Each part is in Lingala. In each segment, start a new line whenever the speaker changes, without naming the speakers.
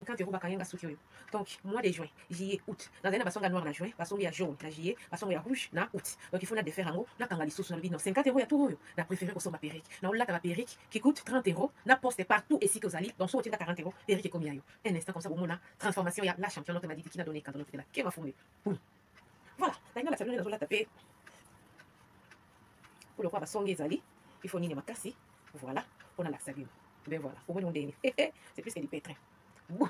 50 euros bakanga nga suki oyo donc mois de juin juillet août nazali na basonge ya noir na juin basonge ya jaune na juillet basonge ya rouge na août donc il faut na defaire yango nakanga lisusu nalobi non 50 euros ya tour oyo na préféré kosomba perrique na olata ba perrique qui coûte 30 euros na poste partout esika ozali donc soki otinda 40 euros perrique ekomi ya yo un instant comme ça bomona transformation ya la champion notre madidi qui na donné cadeau notre de la kema fumbe Voilà, nalinga na salonne nazolata pe. Pour le quoi basongi ezali, il faut nini makasi. Voilà, on a la salonne. Ben voilà, au moins on est. Eh eh, c'est plus que du pétrin. Bon.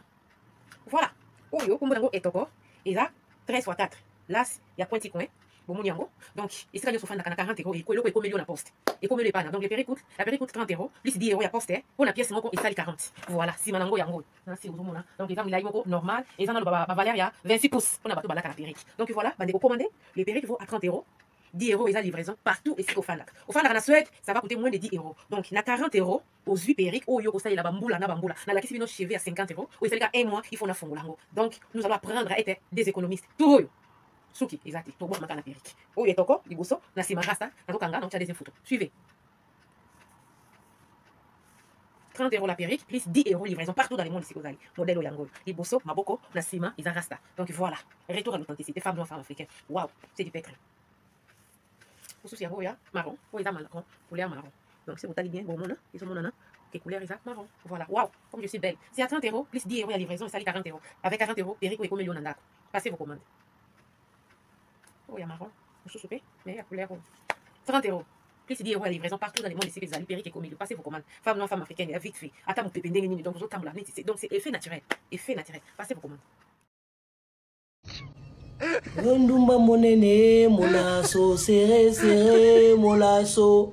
Voilà. Oyo kombo nango etoko eza 13 fois 4. Las ya pointi coin. bomoni yango donc esika nyonso ofandaka na 40 euro eloko ekomeli yo na poste ekomeli epana donc le peri coute la peri coute 30 euro plus 10 euro ya poste mpo na pièce moko esali 40 voilà nsima na yango yango nasi ozomona donc eza milai moko normal eza nano bavaleur ya 26 pouce mpona bato balaka na perike donc voilà bandeko commande le perike vaut à 30 euros 10 euros eza livraison partout esika ofandaka ofandaka na suède ça va coûter moins de 10 euros donc na 40 euros ozwi perike oyo okosalela bambula na bambula nalakisi bino cheve ya 50 euros oyo esalika un mois il faut nafongola yango donc nous allons apprendre à être des économistes tout oyo suki eza te tobwamaka na perike oyo etoko liboso na nsima rasta nazokanga na otya deuxième photo suivez 30 euros la perruque plus 10 euros livraison partout dans le monde sikoyo ozali modèle yango oyo liboso maboko na nsima eza rasta donc voilà retour à l'authenticité femme noire femme africaine waouh c'est du pètre mosusu yango oya marron oyo eza marron couleur marron donc soki otali bien bomona ezomonana que couleur eza marron voilà waouh comme je suis belle c'est à 30 euros plus 10 euros ya livraison esali 40 euros avec 40 euros perruque oyo ekomeli yo na ndako passez vos commandes oyo ya marron mosusu mpe me ya couleur oyo 30 euros plus 10 euros ya livraison partout dans le monde esika ezali perike ekomi passez vos commandes femme noire femme africaine ya vite fait ata mopepe ndenge nini donc ozotambola neti se donc c'est effet naturel effet naturel passez vos commandes
mondumba monene molaso seresere molaso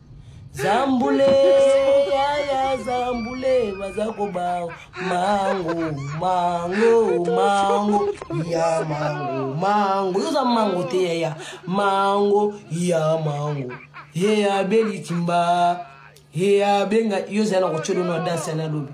zambule yaya zambule baza koba mango mango mango ya mango mango yoza mango te yaya mango ya mango ye abeli timba ye abenga yo zala na kotyodo na danse ya nalobi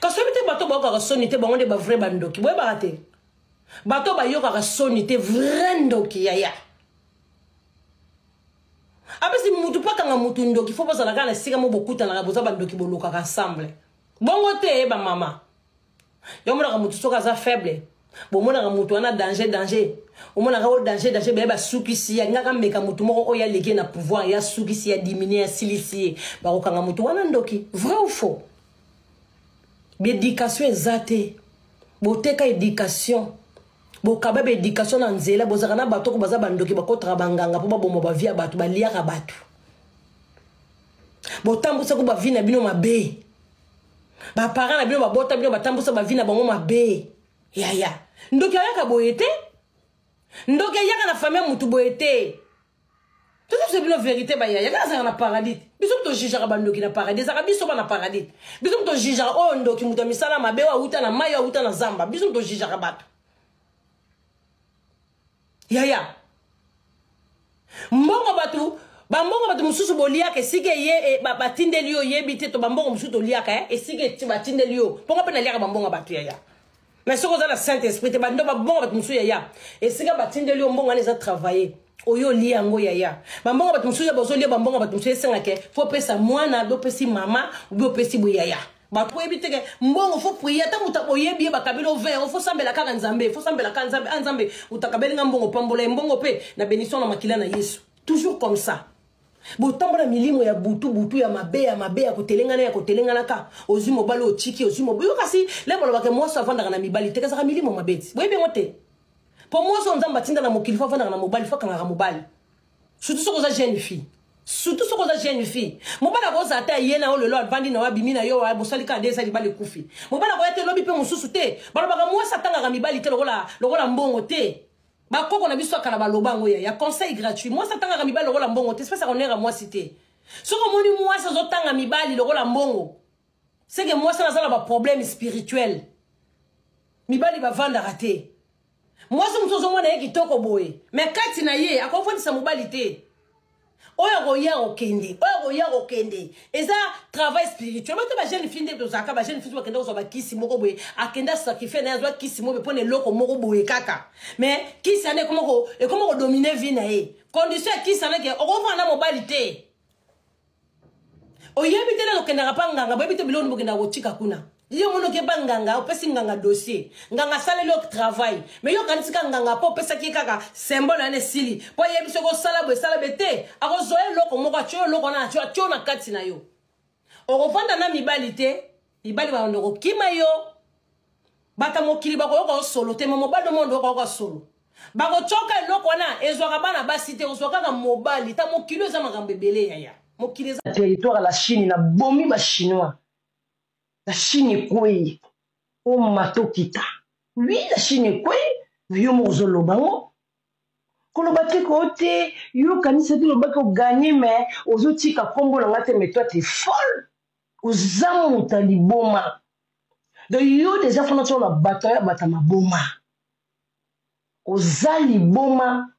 kasi oyebi te bato bayokaka soni te bango nde bavrai bandoki boyebaka te bato bayokaka soni te vrai ndoki yaya apesi mutu mpo akanga mutu ndoki fo bozala kaka na esika mo bokutanaka boza bandoki bolukaka ensemble bongo te ye bamama yo omonaka mutu soki aza faible bomonaka mutu wana danger danger omonaka o danger danger baye basukisi ya ngaka meka mutu moko oyo aleki ye na pouvoir ya sukisi ya diminue ya silisi ye bakokanga mutu wana ndoki vrai ou faux baedikatio eza te boteka edikatio bokaba baedikatio na nzela bozalaka na bato oko baza bandoki bakotaka banganga mpo baboma bavi ya bato baliaka bato botambwisaki bavi na bino mabe baparent na bino babota bino batambwisa bavi na bango mabe yaya ndoki ayaka boye te ndoki ayaka na fami ya motu boye te tozosa bino verité bayaya kaka azalaka na paradis biso moto jugeaka bandoki na paradis ezalaka biso bana paradis biso moto jugeaka oyo oh, ndoki moto ya misala mabe oyo awuta na mai oyo awuta na zamba biso moto jugeaka bato yaya mbongo bato bambongo bato mosusu boliaka esika eye e, batindeli yo oyebi te to bambongo mosusu toliaka eh, esika batindeli yo mponga mpe naliaka bambongo ya bato yaya mais soki oza na saint esprit te bando babonga bato mosusu yaya esika batindeli yo mbongo wana eza travaille oyo olia yango yaya bambongo bato mosusu ya bozolia bambongo bato mosusu esengake fo opesa mwana bi opesi mama obi opesi boye yaya bato oyebi teke mbongo fo prie ata moto oyebi ye bakabeli o 20 fo sambela kaka nzambe fo sambela kaka nzambe a ah, nzambe moto akabeli nga mbongo pambola ye mbongo mpe na benison na makila na yesu toujours comme ça botambola milimo ya butu butu ya mabe ya mabe ya kotelengana ya kotelengana ka ozwi mobali otiki ozwi mobali yo kasi le balobaka mwasi avandaka na mibali te kazaka milimo mabe ti boyebi yango te mpo mwasi oyo nzambe atinda na mokili fo avandaka na mobali fo akangaka mobali surtout soki oza jeune fille surtout soki oza jeune fille mobali akozala te aye na yo lelo avandi na yo abimi na yo bosali kaka nde eza libala ekufi mobali akoya te lobi mpe mosusu te balobaka mwasi atangaka mibali te lokola mbongo te bakoko na biso ya kala baloba yango yaya conseil gratuit mwasi atangaka mibali lokola mbongo te espesi akonera mwasi te soki omoni mwasi azotanga mibali lokola mbongo seke mwasi wana aza na baproblème spirituel mibali bavandaka te mwasi mosusu ozomona ye kitoko boye me kati na ye akofandisa mobali te oyo akoya kokende oyo akoya kokende eza travail spirituel bata bajeune fille nde tozalaka bajeune fille bakenda kozwa bakisi moko boye akenda sacrifie naye azwa kisi moko boye mpo na eloko moko boye kaka mais kisi wana ekoma kodomine vie na ye condition ya kisi wana ke okofana na mobali te oyebi te nano okendaka mpa nganga boyebi te biloko nini bokendaka kotika kuna yo omoni oke mpa nganga opesi nganga dossier nganga asaleli yo travail mai yo okanisi kaka nganga mpo opesaki ye kaka symbole yana esili mpo ayebi soki osala boye esala be te akozwa eloko moko atyo eloko wana atyo na kati na yo okovanda na mibali te mibali babanda kokima yo bato ya mokili bakoyoka yo solo te ma mobali omonde okoyoka solo bakotyoka eloko wana ezwaka bana basi te ozwa kaka mobali ta mokili oyo eza makambo ebele yaya mokili eza territoire la chine na bomi bachinois la chine ekwei oma tokita wi la chine ekwei na yo moko ozoloba ngo koloba te koo te yo okanisi ete olobaki oganye me ozotika nkombo na ngai te me toi te folle oza moto ya liboma donc yo deja fana tio na bato ya bata maboma oza liboma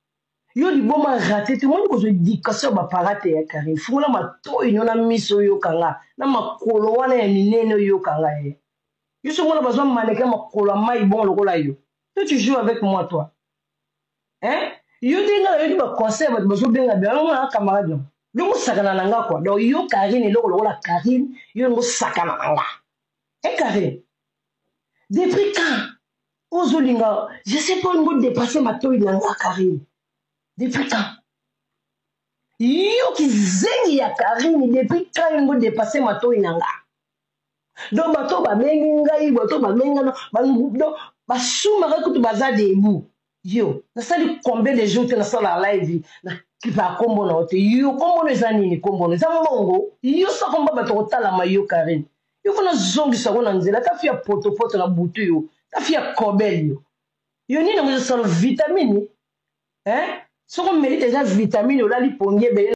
yo liboma rate te omoni kozwa edikatio ya baparate ya karine fungola matoi nio na miso oyoka nga na makolo wana ya minene oyoka nga ye yo so omona bazwa maneke makolo ya mai bongo lokola yo to tu joue avec moi toi hein yo te nga nayoki ba conseil bato bazobenga bia yango na camarade yango yo mosakana na nga kua donc yo karine eloko lokola karine yo yango sakana na nga e eh, karine depuis quand ozolinga je sais pas olingo dépasse matoi na nga karine depuis quand yo kizengi ya karine depuis quand yango dépasse matoi na nga donc bato babengi ngai bato babengi ngai donc basumaka kutu baza debout yo nasali combien de jour te nasala live nakipa nkombo na yo te yo nkombo no eza nini nkombo no eza mbongo yo sakomba bato kotalama yo karine yo fo nazongisa yango na nzela ta fi ya potopoto na butu yo ta fi ya kobel yo yo nini yango ezosala vitamine eh? soko melite eza vitamine olali pongi ebele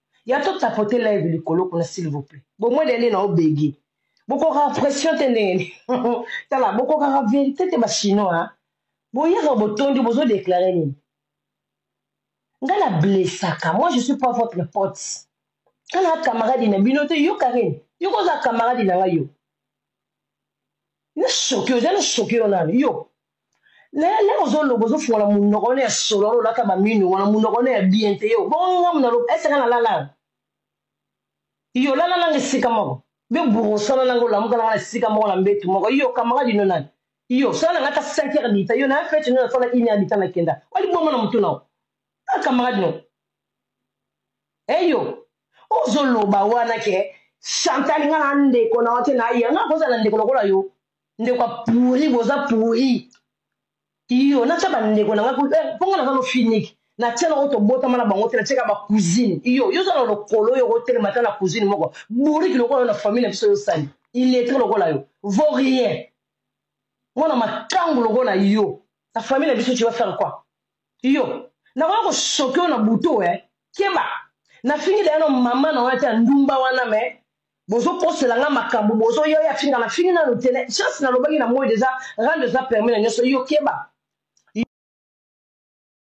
ya to tapoter live likolo kuna s'il vous plaît bomwe dende na obege bokokaka pression te ndenge nini tala bokokaka verité te bachinois boyaka botondi bozodeklare nini nga na blessaka moi je suis pas votre pote nga na camarade na bino te yo karine yo koza camarade na nga yo na choke oza na choke yo nani yo lelo ozoloba ozofungola monoko wana ya solo wana olata bamino wana monoko wana ya bien te yo bongo ngamu na loba eseka na lala yo lala nanga esika moko yo burosana nanga olamuka nanga na esika moko na mbetu moko yo camarade ino nani yo sala nanga ata 5 heure dita yo na fete ino nasala une heure dita nakenda olibongo na motu nao a camarade no eyo ozoloba wana ke chantal nga na ndeko na yo te naye nga kozala ndeko lokola yo ndeko ya pourri boza pourri iyo natya bandeko na ngai eh, mpo ngai naza lofiniki natya nango tobotama na bango te natyaka bacousine iyo yo oza na lokolo oyo okotelema ata na cousine moko bouriki lokola yo na famille na biso yosali iletre lokola yo vo rien mwana makangu lokola yo na famille na biso tu vas faire quoi iyo nakoya kosoki yo na butu e eh. keba nafingi deya no mama na wana te ya ndumba wana me bozokosela nga makambo bozo yo ya finga na fingi nanu te chance nalobaki na moi deja rando eza permis na nyonso iyo keba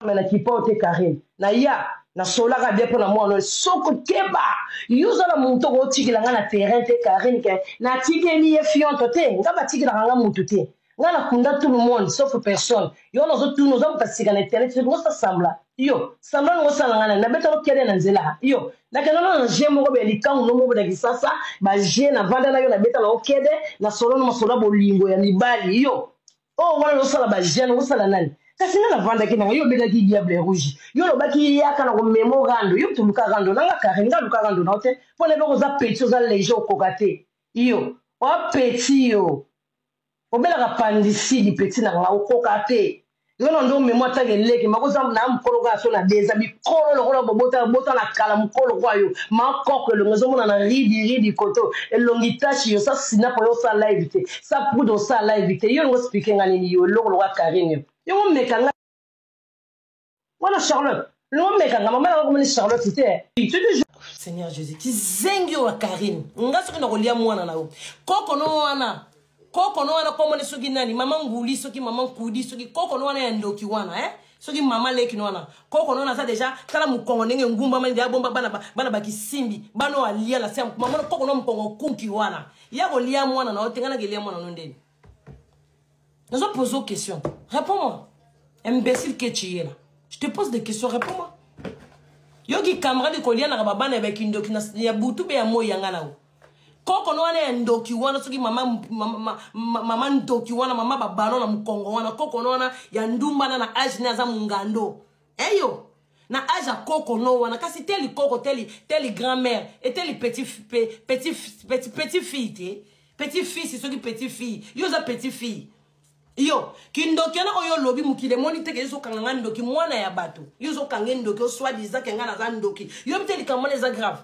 me na kipao te karine na ya nasolaka bien mpo na mwana oyo soko keba yo oza na moto okotikela ngai na terrain te karine ke natikeli ye fionto te ngai batikelaka ngai motu te nga na kunda tout le monde sauf personne yo wana ozotuna oza moto asika na internet soki ngosa sambla yo sambla nango osala nga nani nabeta okede na nzela yo nakenda nano na je moko boya likangu no moko na kisasa baje navanda na yo nabeta na okede na solo no masolo ya bolingo ya mibali yo oyo oh, wana ozosala baje nango osala nani kasi nga navandaki nanga yo obetaki diable rouge yo olobaki yaka na komema orando yo toluka rando nanga kare nga luka rando nao te mpo na boko oza peti oza lege okoka te yo oapeti yo Omelaka pandicide petit na nga okoka te yo na ndo memo atanga eleki makoza na mukolo kaka so na deza mikolo lokola bobota bota na kala mukolo kwa yo ma koko elongi ezomona na ridi ridi koto elongi tashi yo sa sinapo yo sa live te sa poudre sa live te yo ngo spike nga nini yo eloko lokola karine yo ngo meka nga wana charlotte nomekanga mama nanga komoni charlotte te seigneur jésus kizengi oyo ya karine nga soki nakolia mwana na yo koko no wana koko no wana komone soki nani mama nguli soki mama nkudi soki koko no wana ya ndoki wana eh? soki mama leki no wana koko no wana aza deja tala mokongo ndenge ngumbama nde abomba bana, bana bakisimbi bana oyo alia na se mama koko no mokongo kunki wana ya kolia mwana na yo te ngai nakelia mwana no ndeni nazo pose aux questions réponds moi imbécile que tu es là je te pose des questions réponds moi yo kikamarade kolianaka babana ya bakindoki ya butu mpe ya moi yanga na yo kokono wana ya ndoki wana soki mama, mama, mama, mama ndoki wana mama babalo na mokongo wana kokono wana ya ndumbana na age ne aza mongando eyo na age ya koko no wana kasi te likoko te li grand mère e te li petit, petit, petit, petit fille te petit fils soki petit fille yo oza petit fille yo kindoki wana oyo olobi mokili emoni teke ezokanga ngai ndoki mwana ya bato yo ozokanga ndoki oswadisa ke ngai naza ndoki yobi te likambo wana eza grave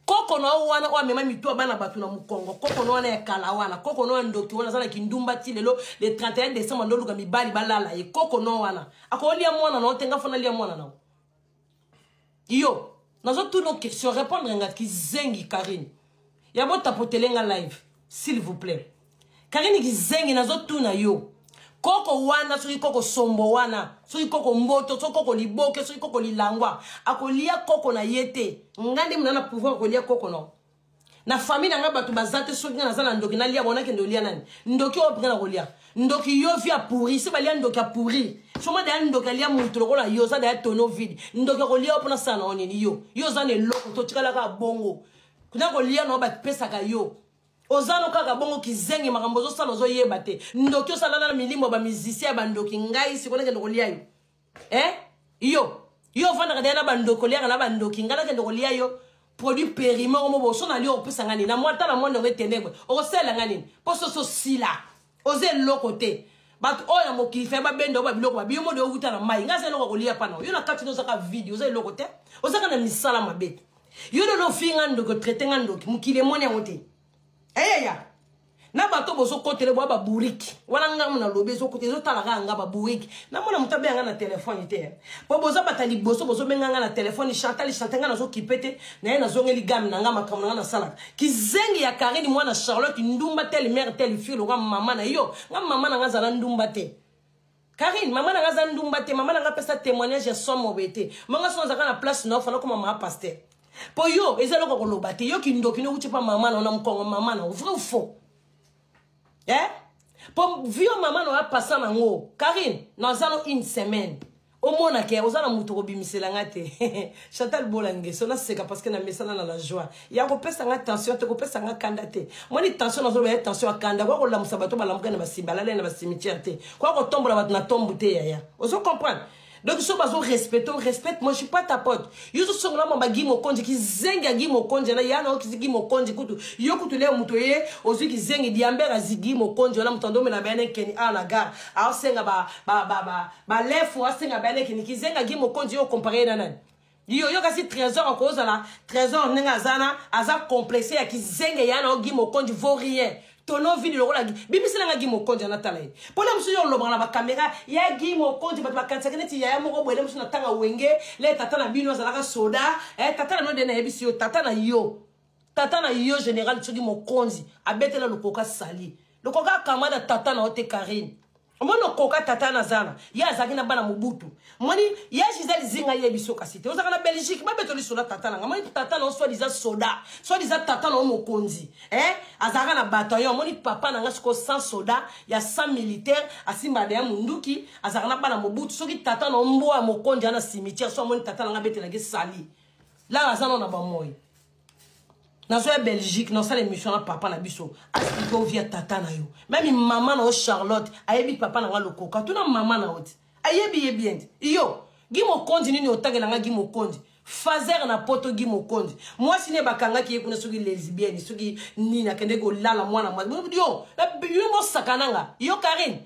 koko na yo wana oyo amema mitu ya bana bato na mokongo koko na wana ya kala wana koko na ya ndoki wana aza na kindumba ti lelo le 31 décembre ndoluka mibali balala ye koko na wana akolia mwana na yo te nga fona lia mwana na yo yo nazotuna question répondre nga kizengi karine ya bo tapotele nga live s'il vous plaît karine kizengi nazotuna yo koko wana soki koko sombo wana soki koko mboto soki koko liboke soki koko lilangwa akolia koko na ye te nga nde mona na pouvoir akolia koko no na famille na ngai bato baza te soki ngai naza na ndoki nalia bona kende olia nani ndoki oyo mpenga na kolia ndoki yo vi apouri se balia ndoki apouri soma daya ndoki alia moto lokola yo oza daya tono vide ndoki akolia yo mpona sala na yo nini yo yo oza na eloko totikalaka bongo na kolia na yo bapesaka yo oza no kaka bongo kizengi makambo ozosala ozoyeba te ndoki osalana na milimo ya bamizisia ya bandoki ngai sikoyo nakende kolia yo e eh? yo yo ofandaka deya na bandoki oliaka na bandoki ngai nakende kolia yo produit perime omo boso na lio okopesa ngai nini na mwa ntala mwa ndongo etenebre okosalela ngai nini mpo soso sila oza eloko te bato oyo ya mokili fai babenda yo babiloko babi yo mode owuta na mai ngai aza eloko kolia pana yo na kati no ozaka vide oza eloko te ozaka na misala mabe yo lelo ofii ngai ndoki otraite ngai ndoki mokili emoni yango te eyeya eh, na bato bozokotele bwa baburiki wana ngai nalobi ezotala kaka ngai baburiki namona moto abenga ngai na telefone te eh. po boza bata liboso bozobenga ngai na telefone chantal chantal ngai nazokipe te naye nazongeli game na ngai makambo na ngai nasalaka kizengi ya karine mwana charlotte ndumba tele mare tele fille loka mama na yo nga mama na nga azala ndumba te karine mama na nga aza ndumba te mama na nga apesa témoignage ya somo boye te manga soki azalaka na place na yo fana okoma maa paster mpo yo eza eloko koloba te yo kindoki nokutye mpa mama na yo na mokongo mama na yo vrai ou faux eh? po vio mama na oya pasa na ngo karine naza no une semaine omona ke oza na moto kobimisela nga te chantal bolangeso naseka parceke namesana na la joie ya kopesa nga tension te kopesa nga kanda te mwani tension nazoloba ya tension ya kanda koya kolamusa bato balamuka na basimba alale na basimitiere te koya kotombola bato na tombu te yaya ozo comprendre donc so bazo respecte o respecte moi je suis pas ta pote yo so songola mamba gi mokonzi kizengi ya gi mokonzi na yana okisi gi mokonzi kutu yo kutu leo moto ye ozwi kizengi diambere azi gi mokonzi wana moto andomela bayana ekeni awa na gare aosenga balefu asenga bayana ekeni kizengi ya gi mokonzi yo okompare ye na nani yo yo kasi trésor akozala trésor ndenge aza na aza complexe ya kizenge ya na ogi mokonji vaut rien tono vidi lokola bimisela nga gi mokonji anatala ye mpona mosusu yo olobaka na bakamera ya gi mokonji bato bakanisaki neti yaya moko boye nde mosusu natanga wenge le tata na bino azalaka soda eh, tata na bino nde nayebisi yo tata na yo tata na yo général soki mokonzi abetela lokoka sali lokoka akamada tata na yo te karine omoni okoka tata na zana ye azalaki na bana mobutu moni ya gisele zinga ye biso kasi te ozalaka na belgique babetoli soda tata nanga moni tata na yo soit diza soda soit diza tata na yo mokonzi eh? azalaka na bataillon omoni papa na nga sikoyo sans soda ya sans militaire asimba deya monduki azalaka na bana mobutu soki tata na yo mbwa ya mokonzi ya na cimetière so amoni tata na nga abetelaki sali lala aza nao na bamoi nazo ya belgique nasala émission na papa na biso asplike ovi ya tata na yo meme mama na yo charlotte ayebi papa na nga lokoka tuna mama na yo ti ayebi ye bien ti iyo gi mokonzi nini otangela nga gi mokonzi fazer na poto gi mokonzi mwasi ne bakangaki ye kuna soki lesbienne soki nini akende kolala mwana mwasi yo bosakana nga yo karine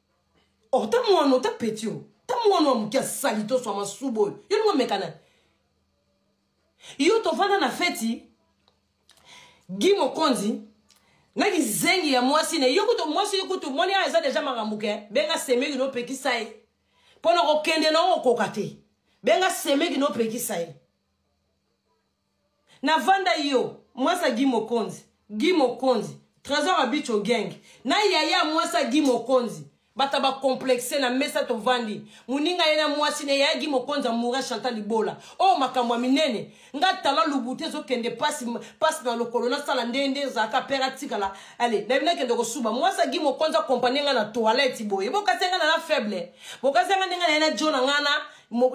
or ta mwana ta peti o ta mwana wa moke asali to swa masuba oyo yo ndingo mekana yo tovanda na feti gi mokonzi na kizengi ya mwasi na yo kutu mwasi yo kutu moni ayo eza deja makambo ke benga semeki nopekisa ye mpo na kokende na okokoka te benga semeki nopekisa ye na vanda yo mwasa gi mokonzi gi mokonzi trésor abicho gang na yaya mwasa gi mokonzi bata ba complexe na mesa tovandi moninga ye na mwasi ne yaya gi mokonzi amoura chanta libola oyo oh, makambo ya minene nga tala lubutu ezokende pasi pasi na lokolo nasala nde nde ezalaka pere atikala ale nayebi nakende kosuba mwasi agi mokonzi akompanie nga na toilette boye bokasi nga na na faible bokasi nga ndenge na ye na jo na ngana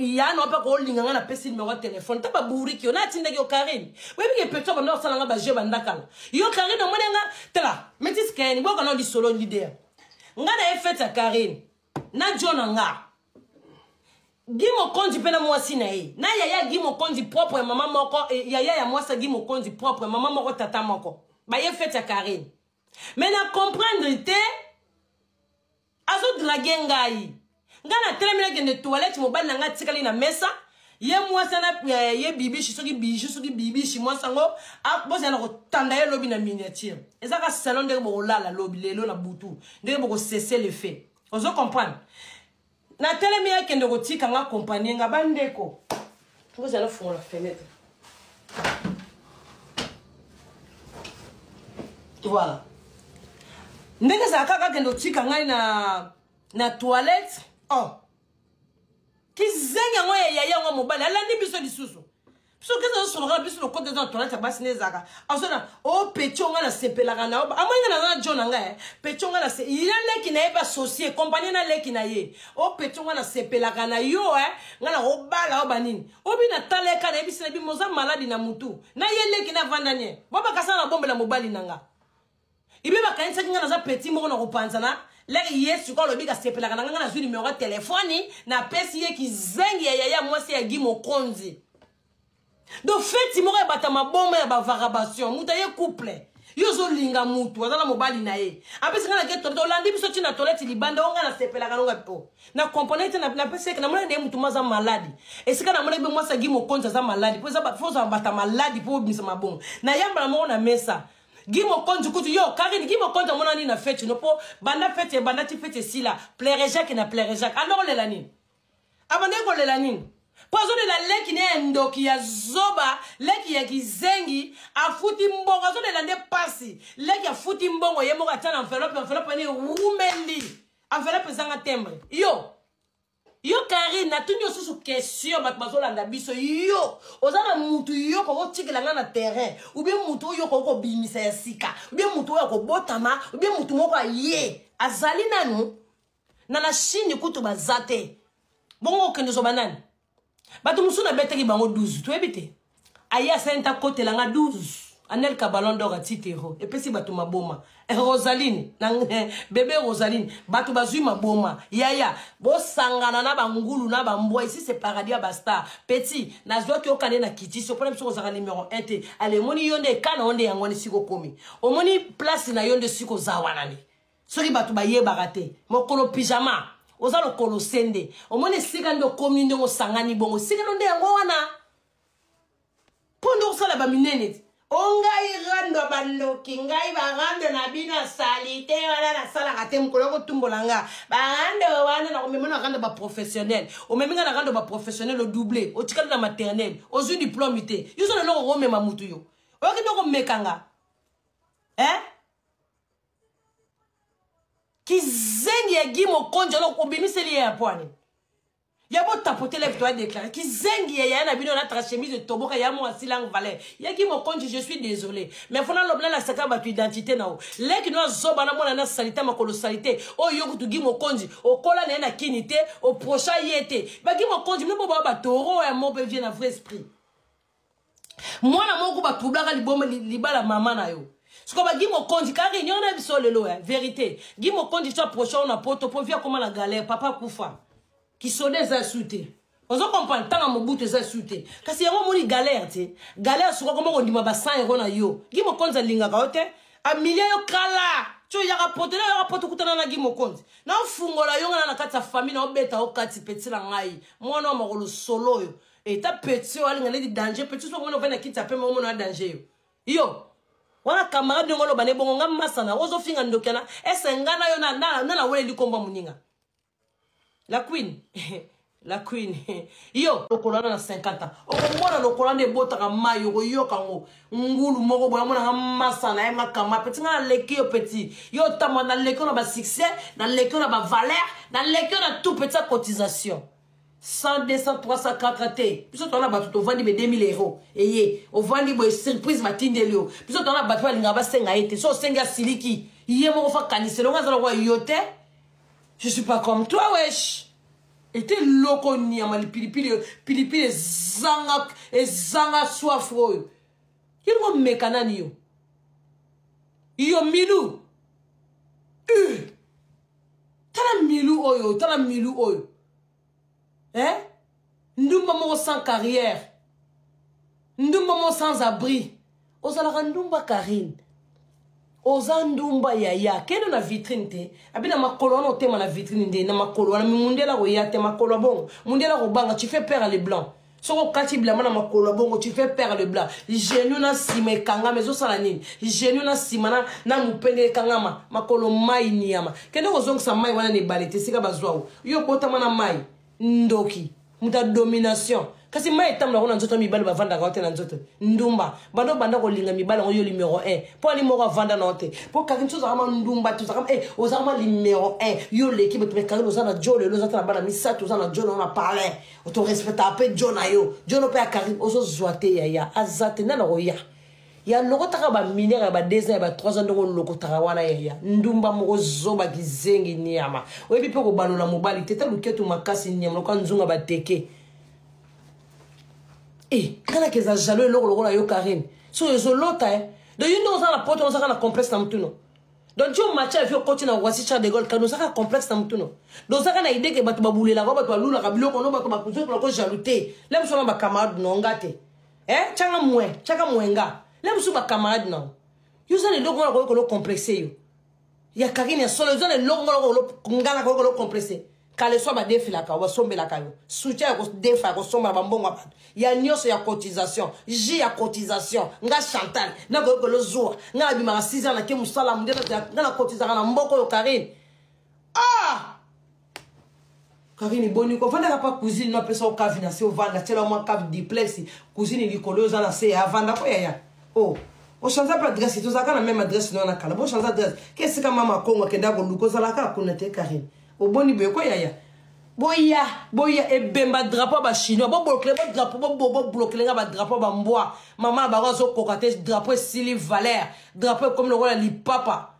ya na mpe kolinga nga napesi nimero ya telefone ta baburiki yo natindaki yo karine oyebi ke peto banda kosala nga bajeu bandakala yo karine omoni nga tala metis kayeni boyoka nao lisolo lidea nga na ye fete ya karine na jo na nga gi mokonzi mpe na mwasi na ye na yaya gi mokonzi propre mama moko eh, yaya ya mwasi ya gi mokonzi propre mama moko tata moko baye fete ya karine mais na comprendre te azodrage ngai ngai natelemi nakende toilette mobali na ngai atikali na mesa ye mwasi ana eh, ye bibishi soki biju soki bibishi mwasi yango ah, bozala na kotanda ye lobi na miniature eza ka salon ndenge bokolala lobi lelo na butu ndenge bokosese le fait ozo comprendre natelemi akende kotika nga kompanie nga bandeko ozala fungola fenetre voilà ndenge ezala kaka akende otika ngai na na toilette oh kizengi yango ya yaya yango mobali alandi biso lisusu soki eza osoloka na biso lokota eza na toilette ya basi nde ezalaka azona o oh, petio ngai nasepelaka na yo amoni ngai naza na jo na ngai eh. petio ngai nase ina leki na ye basosie kompanie na leki na ye o oh, petio ngai nasepelaka na yo e eh. ngai nakobala yo banini obi natala ye ka nayebisi na bimo oza maladi na motu na ye leki na vandanie bobakasana na bombela mobali na ngai ibe bakanisaki ngai naza peti moko na kopanzana leke ye sikoyo alobi kasepelaka na ngai ngai nazwi nimero ya telefoni napesi ye kizengi ya yaya mwasi ya gi mokonzi do feti moko ya bata maboma ya bavarabation moto aye couple yo ozolinga mutu aza na mobali na ye apesi ngai nake tolete olandi biso ntina toleti libanda o ngai nasepelaka nonga po na comprendre te napesi yeke namona nde mutu mo aza maladi esika namonaki be mwasi agi mokonzi aza maladi po eza fo ozala bata maladi po obimisa mabongo nayambala moko na mesa Guy Mokonzi kutu yo Karine Guy Mokonzi amona nini na fete no po banda fete banda ti fete sila plaire Jacques na plaire Jacques ando kolela nini abanda kolela nini po azolela leki ne ya ndoki ya zoba leki ya kizengi afuti mbongo azolela nde pasi leki afuti mbongo ye moko atya na enveloppe enveloppe ene ewumeli enveloppe ezanga tembre yo yo karine natuni yo susu question bato bazolanda biso yo oza na mutu yo okoki otikela ngai na terrain ubie mutu oyo okoki kobimisa ya sika ubie mutu oyo akobotama ubie mutu moko aye azali nanu na na chine kutu baza te bongo okende ozoba nani bato mosusu nabetaki bango 12 toyebi te aye asali nta kotela nga 12 anelka ballon d'or ya titero epesi bato maboma eh, rosaline na eh, bebe rosaline bato bazwi maboma yaya bosangana na bangulu na bambwa isi se paradis ya bastar petit nazwaki okande na kitisi opona biso kozalaka numero 1 te ale omoni yo nde ekana yo nde yango wana esika okomi omoni place na yo nde esika oza wana nde soki bato bayebaka te mokolo pyjama oza lokolo se nde omoni esika nde okomi ndenge osangani bongo esika no nde yango wana mpo nde osala baminene te o oh, ngai rando bandoki ngai barando na bino ya salite wana nasalaka te mokolo kotumbola nga barando wana nakomema na rando baprofessionnel omemi nga na rando baprofessionnel odouble otikali na maternel ozwi diplome te yo oza leloko komema motu yo oyoki nde komeka nga eh? kizengi ya gi mokonzi olo obimiseli ye ya pwani ya botapote live toya déclaré kizengi ya yaya na bino na trachemise etoboka ya mwa silang valeur ya gi mokonzi je suis désolé mais fona lobi nalasaka bato identité na yo leki no azoba namona na salite makolo salite oyo yo kutu gi mokonzi okola na ye na kini te oprocha ye te bagi mokonzi bino boboya batoro ya mope vie na vrai esprit mwana moko batroublaka liboma libala mama na yo sikoyo bagi mokonzi ka réunion na biso lelo ya vérité gi mokonzi so aprochao na poto mpo vi akoma na galère papa akufa kisoda eza su te ozo comprendre ntango ya mobutu eza su te kasi yango omoni galère te galère suka koma kondima ba 100 euro na yo gi mokonzi alingaka yo te amilia yo kala tio yaka poto na yaka poto kutana na gi mokonzi naofungola yo ngana na kati ya famille naobeta yo kati peti na ngai mwana wa makolo solo oyo eta petit oyo alinga neti danger petit soko mona ovandi na kiti ya pembe omona na danger yo yo wana camarade ndenge oloba na ebongo nga masana ozofinga ndoki yana ese nga na yo na naweleli kombo ya moninga la queen la queen yo lokolo wana na 50 ans okomona lokolo wana ebotaka mai okoyoka yango ngulu moko boye amonaka masa na ye makama peti ngai naleki yo peti yo otamba naleki yo na basuccès naleki yo na bavaleur naleki yo na tout peti ya cotisation 100 200 300 4 te biso toza na bato tovandi be 2000 euro eye ovandi boye surprise batindeli yo biso toza na bato oyo alingaka basenga ye te so osengi asiliki ye moko fa kanisa elongo aza lokola yo te je suis pas comme toi wesh ete loko nyama lipilipili oyo pilipili ezanga ezanga soif oyo yelingo meka nani yo yo milu uh. tala milou oyo tala milou oyo hein ndumba moko sans carrière ndumba moko sans abri ozalaka ndumba karine oza ndumba yaya kende na vitrine te abi na makolo wana otema na vitrine nde na makolo wana mi mundela koya te makolo ya bongo mundela kobanga tu fais peur à le blanc soki okati bilamba na makolo ya bongo tu fais père le blanc genou na nsima ekangama ezosala nini genou na nsima na, na mopende ekangama makolo mai niyama kende kozongisa mai wana na ebale te esika bazwao yo okotama na mai ndoki moto ya domination kasi mai etambola yango na nzoto mibali bavandaka te na nzoto ndumba banda obanda kolinga mibali yango yo numero 1 mpo ani moko avanda na yo te mpo kaki nso ozakama ndumba te ozakama eh, ozakama numero 1 yo oleki bato me kaki oza na jo lelo oza te na bana misato oza na jo na yo na palais oto respecta mpe jo na yo jo no mpe ya karine ozozwa te yaya aza te nani akoya ya lokotaka baminere ya badesa ya ba 3 ans ndenge olokotaka wana yaya ndumba moko zoba kizengi niama oyebi mpe kobalola mobali te ta luketu makasi niama loka nzunga bateke e eh, kanaka eza jalo eloko lokola yo karine so ezolota e eh. do yo nde oza na poto ozaka na complexe na motuna donc yo match ya vie okoti na wasi char de gol kani ozaka complexe na mutu no dozaka na idee ke bato babulelaka bato balulaka biloko no bato bakuzokolako jaloux te la biso na bacamarade no nga te eh changa mwe chaka mwe nga la biso bacamarade no yo oza na eloko wana koyokolo complexe yo ya kakini ya solo oza na eloko wana koyokolo ngana koyokolo complexe kaleso badefelaka yo basombelaka yo soutien ya kodefa ya kosomba na bambongo ya bato ya nyonso ya cotisation ji ya cotisation nga chantal nakoki kolozuwa nga nabimaka 6 ans nake mosala munde nga nakotizaka na mboko oyo karine ah karine boni ko vandaka pa cousine no apesa okavi na se ovanda tyela mwa cave diplex cousine likolo oza na se ya avanda ko yaya o oh. ochange mpe adresse tozalaka na meme adresse no na kala bochange adresse ke esika mama kongo akendaka koluka ozalaka kuna te karine oboni boye ko yaya boya boya ebemba drapeau ba chinois boblokele bo drapeau boblokele nga badrapeau bambwa mama bango azokoka te drapeau esili valeur drapeau ekomi lokola lipapa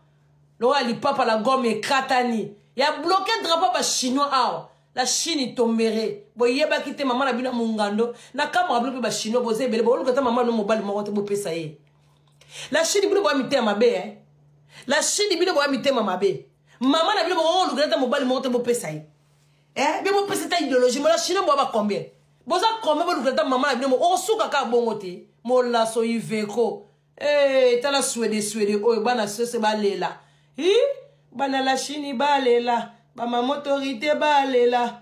lokola lipapa la gomme ekatani ya bloke drapeau ba chinois awa la chine tombere boyebaki te mama na bino mongando na kamaka bino mpe bachinois boza ebele booluka ata mama no mobali moko te bopesa ye la chine bino boya mitema mabe eh? la chine bino boya mitema mabe Maman na bino boko lukela ta mobali moko te bopesa ye. Eh, bino bopesa ta idéologie mola chinois bo ba combien? Boza combien bo lukela ta maman na bino moko suka ka bongo te. Mola so iveko. Eh, tala swede swede oyo bana sose balela. Hi, bana la Chine balela, ba maman autorité balela.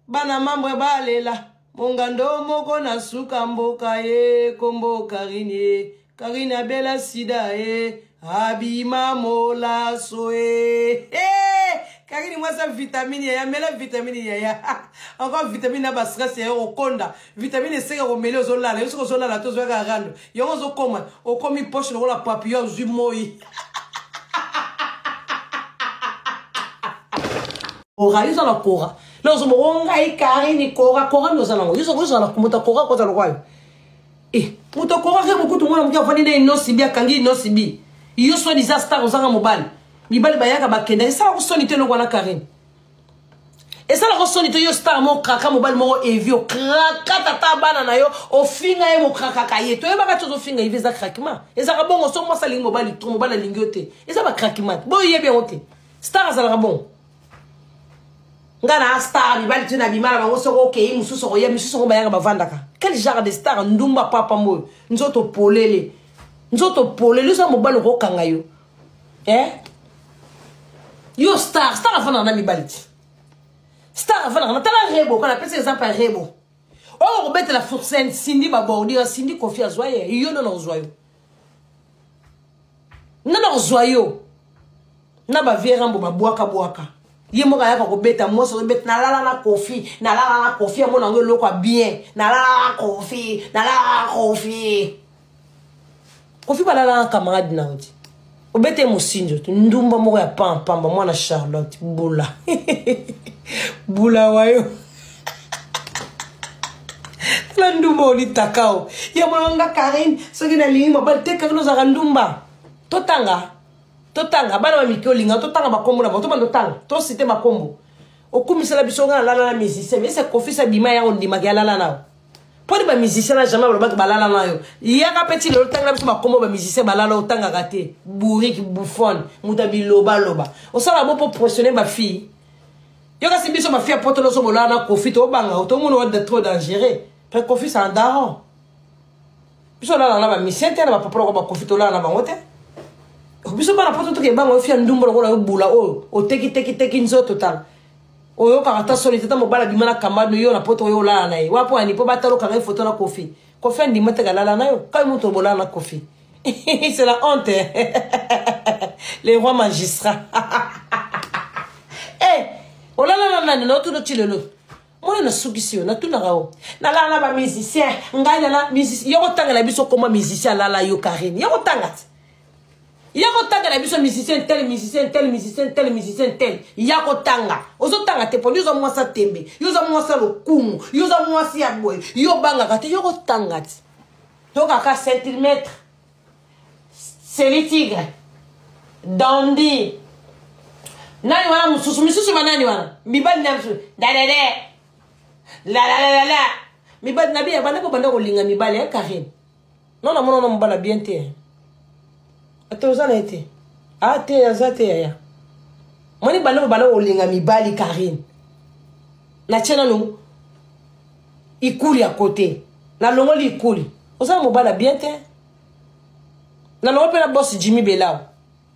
bana mambwe balela mongando moko na suka mboka ye kombo karine ye karine abela sida ye abima molaso ye hey! kakini mwasi ya vitamine yaya mela vitamine yaya encore vitamine na bastress yaya okonda vitamine eseke komeli ozolala yo soki ozolala te ozoyaka rando yango ozokoma okomi poche lokola papio ozwi moi kora yo oza na kora na ozoba o ngai karini kora kora nde oza nango yo ozala moto kora kota lokwayo e eh, moto kora ke mokutu mwana moke afandi na inosibi akangi inosibi yo soni za star ozanga mobali mibali bayaka bakenda esala kosoni te eloko wana karine esala kosoni te yo star moko kraka mobali moko evi okraka tata bana na yo ofinga ye mokrakaka ye toyebaka ti ozofinga evi eza krakima ezaka bongo so mwasi alingi mobali tro mobali alingi yo te eza bakrakima boyebi yango te star azalaka bon nga na star mibali tino abima na bango soki okei mosusu okoya misusu yango bayaka bavandaka quel genre de star ndumba papa mboyo nzoto polele nzoto polele oza mobali okokanga yo eh? yo star star afandaka na mibali ti star afandaka na tala rebo kana apesa exemple ya rebo oyo okobetela fursen sindi babordira sindi kofi azwa ye yo nona ozwa yo nga nakozwa yo na bavie rambo babwaka bwaka ye moko ayaka kobeta mwasi ozobeta nalala na kofi nalala na kofi amona yango eloko ya bien nalala na kofi nalala na kofi kofi balala na camarade na yo te obete mosinzo te ndumba moko ya pampamba mwana charlotte bula bula wayo tala ndumba olitaka o ya molonga karine soki nalingi mobali te karine ozalaka ndumba totanga totanga bana bamike olinga totanga bakombo na bango tobanda otanga tosite bakombo okumisela biso nga nalala na musicien ese kofisa bima yango ondimaka yalala nao mpo nde bamusicien na jamais balobaki balala na yo yaka mpe ti lelo tanga na biso bakombo bamusicien balala otangaka te bourrique bouffone moto ya bilobaloba osala bo mpo pressionne bafille yo kasi biso bafille ya poto loso bolala na kofi tobanga o tomona wa trop dangereux mpe kofi sa daron biso olala na bamisien te na bapapa loko bakofi tolala na bango te biso bana poto tokebango yo fia ndumba lokola yo bula oyo otekitekiteki nzoto tala oyokaka ata soni te ata mobali abima na kamba no yo na poto oyo olala na ye wapo ani mpo batalokanga ye foto na kofi kofi andima te kalala na yo kai moto obolala na kofi c'est la honte le roi magistrat e eh, olala na nani na otuna ti lelo mwana nasukisi yo natunaka yo nalala na bamusicien ngai nala yokotangela biso koma musicien alala yo karine yokotanga te ya kotangela biso musicien tel musicien tel musicien tel musicien tel ya kotanga ozotanga te poni oza mwasi ya tembe yo oza mwasi ya lokumu yo oza mwasi ya boye yo obangaka te yo kotanga ti tokaka centimètre selitigre dandi nani wana mosusu misusu banani wana mibali na biso dadede lalalala mibali na biye banda kobanda kolinga mibali ya karine Non na mona na mobala bien te. Ata oza na ye te. Ah te aza te yaya. Moni banda mobala olinga mibali Karine. Na tiena no ikuli à côté. Na longoli ikuli. Oza na mobala bien te. Na longoli pe na boss Jimmy Belao.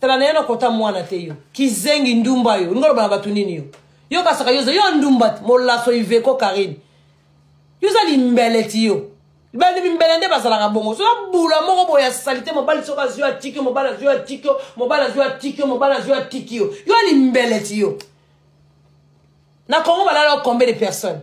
tala naye nakota mwana te yo kizengi ndumba yo olingi oloba na bato nini yo yo kasaka yo yo ndumba te molaso iveko karine yo oza limbeleti yo bandi mimbele nde bazalaka bongo soza bula moko boye ya salite mobali soki azwi atiki yo mobali azwi atiki yo mobali azwi atiki yo mobali azwi atiki yo yo limbeleti yo na congo balala combien de personnes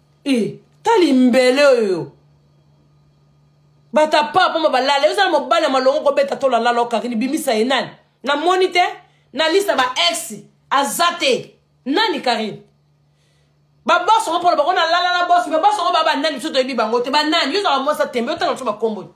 e tali mbele oyo bato ya paa mpoma balala yo oza na mobali ya malongo kobeta to lalala okarini bimisa ye nani namoni te na lista ba ex aza te nani karine babos yango mpona bango nalalala bos me bos yango baa banani biso toyebi bango te banani yo ozala mwasi ya tembe otanga biso bakombo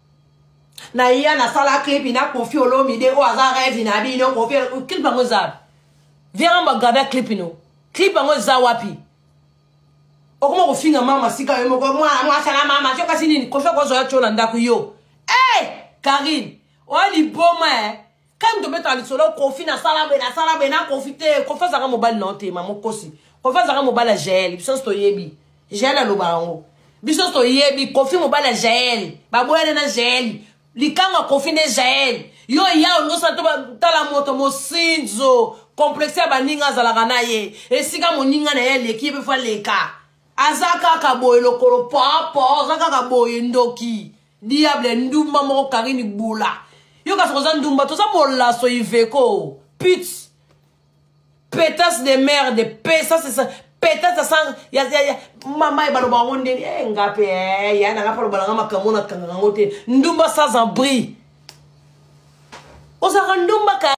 na ya nasala clip na kofi olomide oyo aza rêve na bino kofi clip yango eza wapi viens bagrave clip no clip yango eza wapi okoma kofinga mama sika yo moko mwana mwasa na mama tyo kasi nini kofi akozwa yo tyo na ndako yo e karine oyo liboma e kani tobetaka lisolo kofi nasala boye nasala boye na kofi te kofi azalaka mobali na yo te mama okosi kofi azalaka mobali ya jael biso nyonso toyebi jael aloba yango biso nyonso toyebi kofi mobali ya jael baboyane na jael likango ya kofi nde jael yo ya olingi osala to tala moto mosinzo komplexe ya baninga azalaka na ye esika moninga na ye aleki ye mpe fo aleka aza kaka boye lokolo popo aza kaka boye ndoki diable ndumba moko karine bula yo kasi koza ndumba toza molaso iveko put petas de merde pesa sesa petas asa ya, ya, ya. mama ebaloba yango ndeni e eh, nga mpe eh, ya nanga mpe alobala nga makambo na kanga yango te ndumba sans abri ozalaka ndumba ka